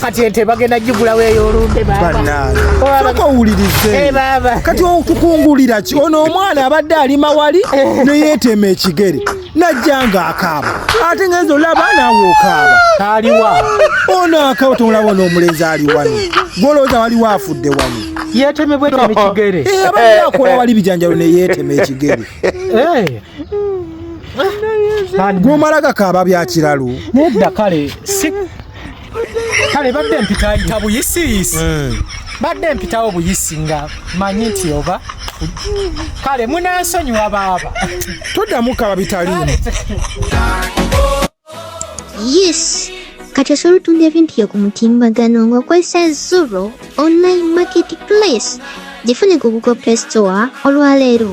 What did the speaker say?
kati ente bagenda gigulawo eyolumbe babasoka owulirize eh, kati okukungulira ki ono omwana abadde alima wali eh. neyeteema ekigere najja nga akaaba ate ngenza olaba naawe okaaba aliwa ono akaaba tomulaba ono omulenzi ali wano gwolowooza waliwo afudde wano yetemebwa etema ekigere eh, abadde akola wali bijanjalo neyetema ekigere gwomala gakaaba byakiralu nedda kale kale badde mpitayita buyisiyisi eh. badde mpitawo buyisi nga manyi nti oba kale munansonyiwa baaba toddamu kaba bitalimu yes kati osobola otunda ebintu byo ku mutimbagano ng'okozesa zuro online market place gifune ku google play store olwaleero